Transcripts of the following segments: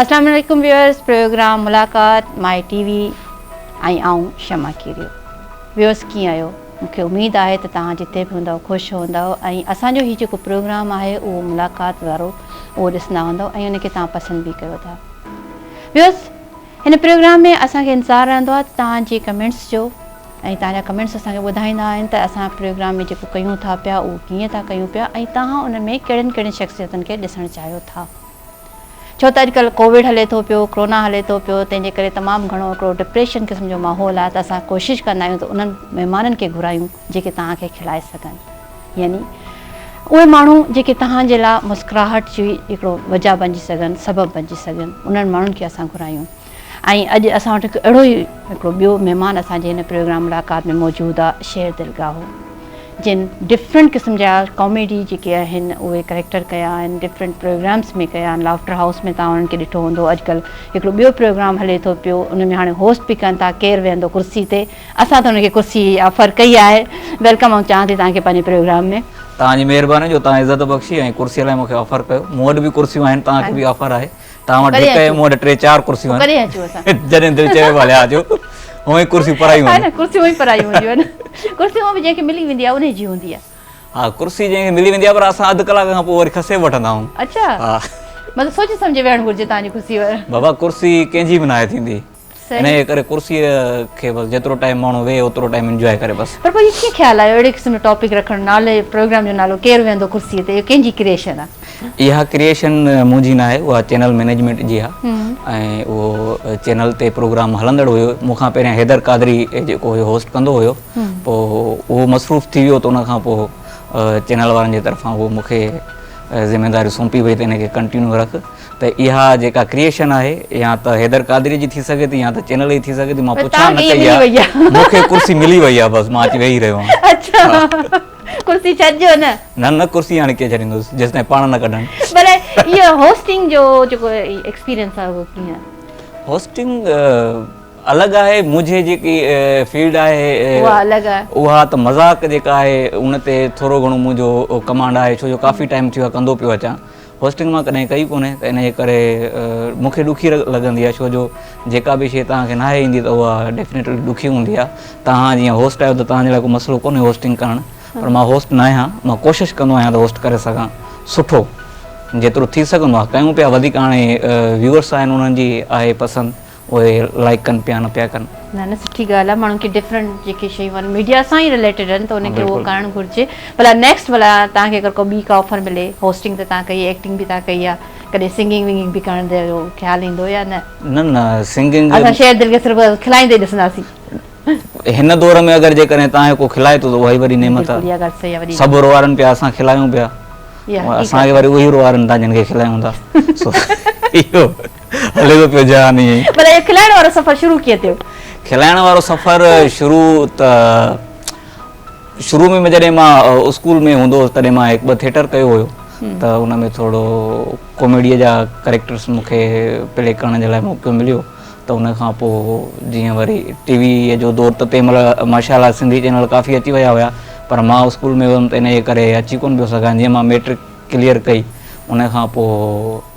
السلام عليڪم viewers program ملاقات مائي ٽي وي ۽ آئون شمع کيريو ويورز ڪيئن آهيو مونکي اميد آهي ته توهان جتي به هوندو خوش هوندو ۽ اسان جو هي جيڪو پروگرام آهي اهو ملاقات وارو اهو ڏسندا هوندو ۽ ان کي توهان پسند به ڪيو ٿا ويورز هن پروگرام ۾ اسان کي انتظار رهندو آهي ته توهان جي ڪمينٽس جو ۽ توهان جا ڪمينٽس اسان کي ٻڌائيندا آهن ته اسان پروگرام ۾ جيڪو ڪيون ٿا پيا اهو ڪيئن ٿا ڪيون پيا ۽ توهان ان ۾ ڪهڙين ڪهڙين شخصيتن کي ڏسڻ چاهيو ٿا ڇو ته اڄڪلهه ڪووڊ هلي ٿو پيو ڪرونا هلي ٿو پيو تنهن جي ڪري تمام گهڻو هڪڙو ڊپريشن قسم جو ماحول آهي ته اسان ڪوشش ڪندا آهيون ته انهن مهمانن کي گهرايون جيڪي توهان کي کلائي سگهن. يعني اهي ماڻهو جيڪي توهان جي لاء مسڪراهٽ جي هڪڙو وجهه بنجي سگهن، سبب بنجي سگهن، انهن ماڻهن کي اسان گهرايون ۽ اڄ اسان وٽ هڪ اهڙو ئي هڪڙو ٻيو مهمان اسان جي هن پروگرام ملاقات ۾ موجود آ شير دلگاهو جن ڊفرنٽ قسم جا ڪاميڊي جيڪي آهن اهي ڪريڪٽر ڪيا آهن ڊفرنٽ پروگرامس ۾ ڪيا آهن لافٽر هائوس ۾ توهان انهن کي ڏٺو هوندو اڄ ڪلهه هڪڙو ٻيو پروگرام هلي ٿو پيو ان ۾ هاڻي هوسٽ به ڪن ٿا ڪير ويهندو ڪرسي تي اسان ته ان کي ڪرسي آفر ڪئي آهي ويلڪم آئون چاهان ٿي توهان کي پنهنجي پروگرام ۾. توهان جي مهرباني جو توهان عزت بخشي ۽ ڪرسي لاء مون کي آفر ڪيو مون وٽ به ڪرسيون آهن توهان کي به آفر آهي توهان وٽ هڪ ۽ مون وٽ ٽي چار ڪرسيون آهن ڪڏهن اچون اسان جڏهن دل چيو ڀلي آ جو هونئن ئي ڪرسيون پرايون آهن ها نه ڪرسيون هونئن ئي پرايون هونديون آهن ڪرسي هونئن به جنهن کي ملي ويندي آهي انهي جي هوندي آهي ها ڪرسي جنهن کي ملي ويندي آهي پر اسان اڌ ڪلاڪ کان پوء وري کسي به وٺندا آهون اڇا ها مطلب سوچي سمجهي ويهڻ گهرجي توهان جي ڪرسي بابا ڪرسي ڪنهن جي به ناهي ٿيندي انهيء ڪري ڪرسيء کي بس جيترو ٽائيم ماڻهو ويهي اوترو ٽائيم انجواء ڪري بس. پر پوء اهو ڪيئن خيال آيو اهڙي قسم جو ٽاپڪ رکڻ نالي پروگرام جو نالو ڪير ويهندو ڪرسيء تي اهو ڪنهن جي ڪريئيشن آهي؟ اها ڪريئيشن منهنجي نه آهي اها چينل مئنيجمينٽ جي آهي ۽ اهو چينل تي پروگرام هلندڙ هيو مون کان پهريان حيدر قادري جيڪو هيو هوسٽ ڪندو هيو پوء اهو مصروف ٿي ويو ته ان کان پوء چينل وارن جي طرفان اهو مون کي ذميداري سونپي وئي ته ان کي ڪنٽينيو رک ته اها جيڪا ڪريئيشن آهي يا ته حيدر قادري جي ٿي سگهي ٿي يا ته چينل جي ٿي سگهي ٿي مان پڇا نه ڪئي آهي مون کي ڪرسي ملي وئي آهي بس مان اچي ويهي رهيو آهيان اڇا ڪرسي ڇڏجو نه نه نه ڪرسي هاڻي ڪيئن ڇڏيندس جيستائين پاڻ نه ڪڍن پر اهي هوسٽنگ جو جيڪو ايڪسپيرينس آهي اهو ڪيئن هوسٽنگ الڳ آهي منهنجي جيڪي فيلڊ آهي اها الڳ آهي اها ته مذاق جيڪا آهي ان تي ٿورو گهڻو منهنجو ڪمانڊ آهي ڇو جو ڪافي ٽائيم ٿيو آهي ڪندو پيو اچان هوسٽنگ مان ڪڏهن ڪئي ڪونهي ته انهيء ڪري مون کي ڏکي لڳندي آهي ڇو جو جيڪا به شيء توهان کي ناهي ايندي ته اها ڊيفنيٽلي ڏکي هوندي آهي توهان جيئن هوسٽ آهيو ته توهان جي لاء ڪو مسئلو ڪونهي هوسٽنگ ڪرڻ پر مان هوسٽ ناهيان مان ڪوشش ڪندو آهيان ته هوسٽ ڪري سگهان سٺو جيترو ٿي سگهندو آهي ڪيون پيا وڌيڪ هاڻي ويوئرس آهن انهن جي آهي پسند اهي لائڪ ڪن پيا نه پيا ڪن. نه نه سٺي ڳالهه آهي ماڻهن کي ڊفرنٽ جيڪي شيون آهن ميڊيا سان ئي رليٽيڊ آهن ته ان کي اهو ڪرڻ گهرجي ڀلا نيڪسٽ ڀلا توهان کي اگر ڪو ٻي ڪا آفر ملي هوسٽنگ ته توهان ڪئي ايڪٽنگ به توهان ڪئي آهي ڪڏهن سنگنگ ونگنگ به ڪرڻ جو خيال ايندو يا نه نه نه سنگنگ اسان شير دل کي صرف کلائيندي ڏسنداسين هن دور ۾ اگر جيڪڏهن توهان کي ڪو کلائي ٿو ته اها ئي وڏي نعمت آهي سڀ روئارن پيا اسان کلائيون پيا اسان کي وري اهي روئارن تان جن کي کلائيون ٿا اهو هلي ٿو پيو جهان ائين ئي. ڀلا اهو کلائڻ وارو سفر شروع ڪيئن ٿيو؟ کلائڻ وارو سفر شروع ته شروع ۾ جڏهن مان اسڪول ۾ هوندو هوس تڏهن مان هڪ ٻه ٿيٽر ڪيو هيو ته ان ۾ ٿورو ڪاميڊيء جا ڪريڪٽرس مون کي پلي ڪرڻ جي لاء موقعو مليو ته ان کان پوء جيئن وري ٽي ويء جو دور ته تنهن مهل ماشا الله سنڌي چينل ڪافي اچي ويا هيا پر مان اسڪول ۾ هيم ته انهيء ڪري اچي ڪونه پيو سگهان جيئن مان ميٽرڪ ڪليئر ڪئي ان کان پوء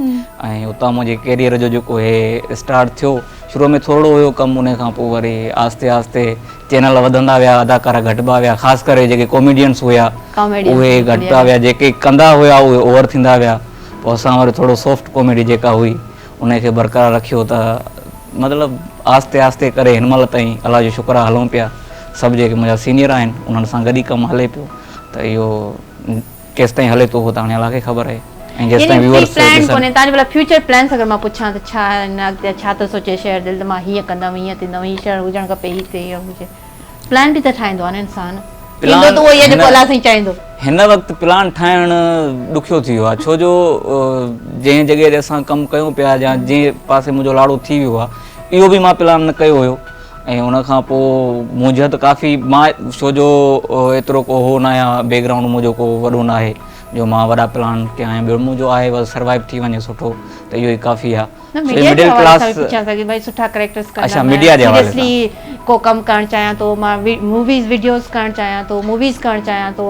۽ اتان منهنجي ڪيريئر جو جيڪو هي اسٽارٽ ٿيو شروع ۾ ٿورڙو هيو ڪم ان کان پوء وري آهستي آهستي چينل وڌندا ويا اداڪارا گهٽبا ويا خاص ڪري جيڪي ڪاميڊينس هيا اهي گهٽبا ويا جيڪي ڪندا هيا اهي اوور ٿيندا ويا پوء اسان وري ٿورڙو سافٽ ڪاميڊي جيڪا هئي ان کي برقرار رکيو ته مطلب آهستي آهستي ڪري هن مهل تائين الله جو شڪر آهي هلون پيا سڀ جيڪي منهنجا سينيئر آهن انهن سان گڏ ئي ڪم هلي پيو ته اهو ڪيستائين هلي ٿو اهو ته هاڻي الله کي خبر آهي ۽ جيستائين ويورس ڏسن. تنهنجو ڀلا فيوچر پلانس اگر مان پڇان ته ڇا آهن اڳتي ڇا ٿو سوچين شهر دل ته مان هيئن ڪندم هيئن ٿيندم هي شهر هجڻ کپي هي ٿئي هي هجي پلان به ته ٺاهيندو آهي نه انسان ٿيندو ته اهو ئي آهي جيڪو الله سائين چاهيندو. هن وقت پلان ٺاهڻ ڏکيو ٿي ويو آهي ڇو جو جنهن جڳهه تي اسان ڪم ڪيون پيا جا جنهن پاسي منهنجو لاڙو ٿي ويو آهي اهو به مان پلان نه ڪيو هيو ۽ ان کان پوء منهنجا ته ڪافي مان ڇو جو ايترو ڪو هو ناهيان بيڪ گرائونڊ منهنجو ڪو وڏو ناهي جو مان وڏا پلان ڪيا آهن ٻيو منهنجو آهي بس سروائيو ٿي وڃي سٺو ته اهو ئي ڪافي آهي نه ميڊيا جي حوالي سان به پڇيان ٿا جي ڀاء سٺا ڪريڪٽرس ڪندا اڇا ميڊيا جي حوالي سان سيريسلي ڪو ڪم ڪرڻ چاهيان ٿو مان موويز وڊيوز ڪرڻ چاهيان ٿو موويز ڪرڻ چاهيان ٿو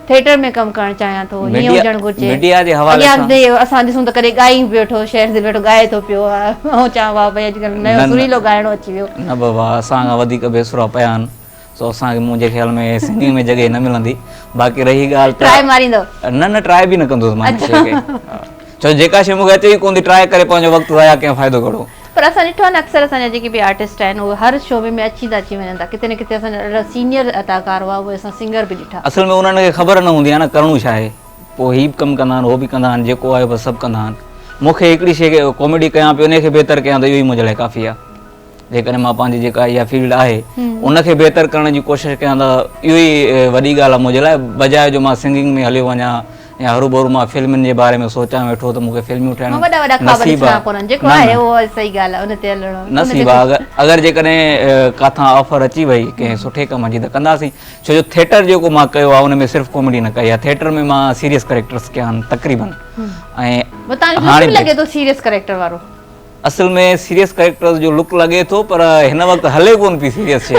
ٿيٽر ۾ ڪم ڪرڻ چاهيان ٿو هيئن هجڻ گهرجي اڳيان به اسان ڏسون ته ڪڏهن ڳائي به ويٺو شهر تي ويٺو ڳائي ٿو پيو آئون چوان واهه ڀئي اڄڪلهه نيو سريلو ڳائڻو اچي ويو نه بابا اسان کان وڌيڪ بي سرا پيا آهن سو اسان کي منهنجي خيال ۾ سنگنگ ۾ جڳهه نه ملندي باقي رهي ڳالهه ٽرائي ماريندو نه نه ٽرائي به نه ڪندس مان هن شي کي ڇو جو جيڪا شيء مون کي اچي ئي ڪونه ٿي ٽراء ڪري پنهنجو وقت ضايع ڪيان فائدو ڪهڙو. پر اسان ڏٺو آهي نه اڪثر اسان جا جيڪي به آرٽسٽ آهن اهي هر شعبي ۾ اچين ٿا اچي وڃن ٿا ڪٿي نه ڪٿي اسان جا ڏاڍا سينئر اداڪار هئا اهي اسان سنگر به ڏٺا. اصل ۾ انهن کي خبر نه هوندي آهي نه ڪرڻو ڇا آهي پوء هي به ڪم ڪندا آهن هو به ڪندا آهن جيڪو آهي بس سڀ ڪندا آهن مون کي هڪڙي شيء کي ڪاميڊي ڪيان پيو انهي کي بهتر ڪيان ته اهو ئي منهنجي لاء ڪافي آهي جيڪڏهن مان پنهنجي جيڪا اها فيلڊ آهي ان کي بهتر ڪرڻ جي ڪوشش ڪيان ته اهو ئي وڏي ڳالهه آهي منهنجي لاء بجاء جو مان سنگنگ ۾ هليو وڃان ائين هروڀرو مان فلمن جي باري ۾ سوچان ويٺو ته مون کي فلميون ٺاهڻ نصيب آهي. اگر جيڪڏهن ڪاٿان آفر اچي وئي ڪنهن سٺي ڪم جي ته ڪنداسين. ڇو جو ٿيٽر جيڪو مان ڪيو آهي ان ۾ صرف ڪاميڊي نه ڪئي آهي. ٿيٽر ۾ مان سيريس ڪريڪٽرس ڪيا آهن تقريبن. ۽ هاڻي به. اصل ۾ سيريس ڪريڪٽرز جو لڪ لڳي ٿو پر هن وقت هلي ڪون پئي سيريس شي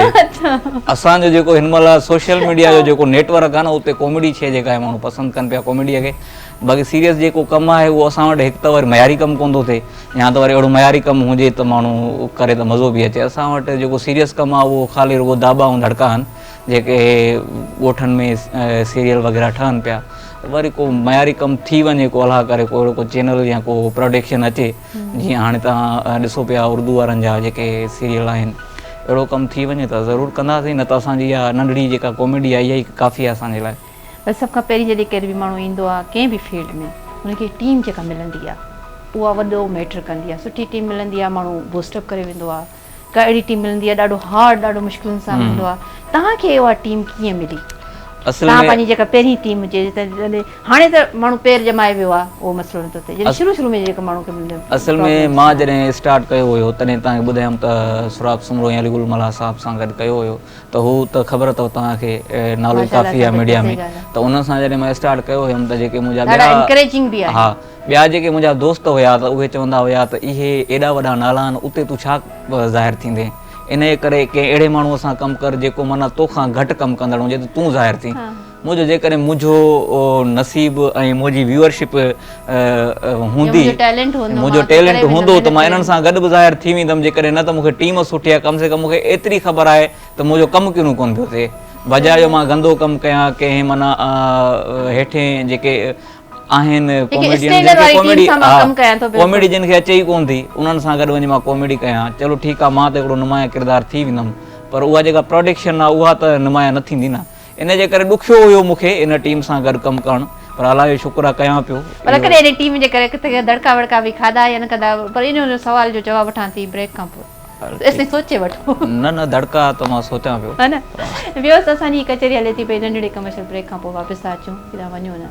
اسان جو جيڪو هن مهل سوشل ميڊيا جو جيڪو نيٽ ورڪ آهي نه اتي ڪاميڊي شي جيڪا آهي ماڻهو پسند ڪن پيا ڪاميڊيء کي باقي سيريس جيڪو ڪم آهي اهو اسان وٽ هڪ ته وري معياري ڪم ڪون ٿو ٿئي يا ته وري اهڙو معياري ڪم هجي ته ماڻهو ڪري ته مزو به اچي اسان وٽ جيڪو سيريس ڪم آهي اهو خالي رڳو داٻا ۽ ڌڙڪا آهن جيڪي ڳوٺن ۾ سيريل وغيره ٺهن پيا وري ڪو معياري ڪم ٿي وڃي ڪو الاهه ڪري ڪو اهڙو ڪو چينل يا ڪو پروڊڪشن اچي جيئن هاڻي تان ڏسو پيا اردو وارن جا جيڪي سيريل آهن اهڙو ڪم ٿي وڃي ته ضرور ڪنداسين نه ته اسان جي اها ننڍڙي جيڪا ڪاميڊي آهي اها ئي ڪافي آهي اسان جي لاء. بس سڀ کان پهرين جڏهن ڪير به ماڻهو ايندو آهي ڪنهن به فيلڊ ۾ ان کي ٽيم جيڪا ملندي آهي اها وڏو ميٽر ڪندي آهي سٺي ٽيم ملندي آهي ماڻهو بوسٽ اپ ڪري ويندو آهي ڪا اهڙي ٽيم ملندي آهي ڏاڍو هارڊ ڏاڍو مشڪلن سان هوندو آهي توهان کي اها ٽيم ڪيئن ملي توهان پنهنجي جيڪا پهرين ٽيم هجي هاڻي ته ماڻهو پير ڄمائي ويو آهي اهو مسئلو نٿو ٿئي جڏهن شروع شروع ۾ جيڪا ماڻهو کي ملندي اصل ۾ مان جڏهن اسٽارٽ ڪيو هيو تڏهن توهان کي ٻڌايم ته سراب سومرو ۽ علي گل ملاح صاحب سان گڏ ڪيو هيو ته هو ته خبر اٿو توهان کي نالو ڪافي آهي ميڊيا ۾ ته انهن سان جڏهن مان اسٽارٽ ڪيو هيم ته جيڪي منهنجا ڏاڍا انڪريجنگ به آهي ٻيا جيڪي منهنجا دوست هيا ته اهي چوندا هيا ته اهي ايڏا وڏا نالا آهن اتي تون ڇا ظاهر ٿيندين انهيء ڪري ڪنهن اهڙي ماڻهوء سان ڪم ڪر جيڪو معنيٰ تو کان گهٽ ڪم ڪندڙ هجي ته تون ظاهر ٿين منهنجو جيڪڏهن منهنجو نصيب ۽ منهنجي ويورشپ هوندي منهنجو ٽيلنٽ هوندو ته مان انهن سان گڏ به ظاهر ٿي ويندم جيڪڏهن نه ته مون کي ٽيم سٺي آهي ڪم سي ڪم مون کي ايتري خبر آهي ته منهنجو ڪم ڪينو ڪونه پيو ٿئي بجاء جو مان گندو ڪم ڪيان ڪنهن معنيٰ هيٺين جيڪي آهن ڪاميڊين جن کي ڪاميڊي ڪاميڊي جن کي اچي ئي ڪون ٿي انهن سان گڏ وڃي مان ڪاميڊي ڪيان چلو ٺيڪ آهي مان ته هڪڙو نمايان ڪردار ٿي ويندم پر اها جيڪا پراڊڪشن آهي اها ته نمايان نه ٿيندي نه ان جي ڪري ڏکيو هيو مون کي ان ٽيم سان گڏ ڪم ڪرڻ پر الله جو شڪر آهي ڪيان پيو پر ڪڏهن ان ٽيم جي ڪري ڪٿي دڙڪا وڙڪا به کاڌا يا نه کاڌا پر ان سوال جو جواب وٺان ٿي بريڪ کان پوء. ايستائين سوچي وٺو. نه نه دڙڪا ته مان سوچان پيو. ها نه. ويوس اسان جي هي ڪچهري هلي ٿي پئي ننڍڙي ڪمرشل بريڪ کان پوء واپس ٿا اچون ڪيڏانهن وڃون نه.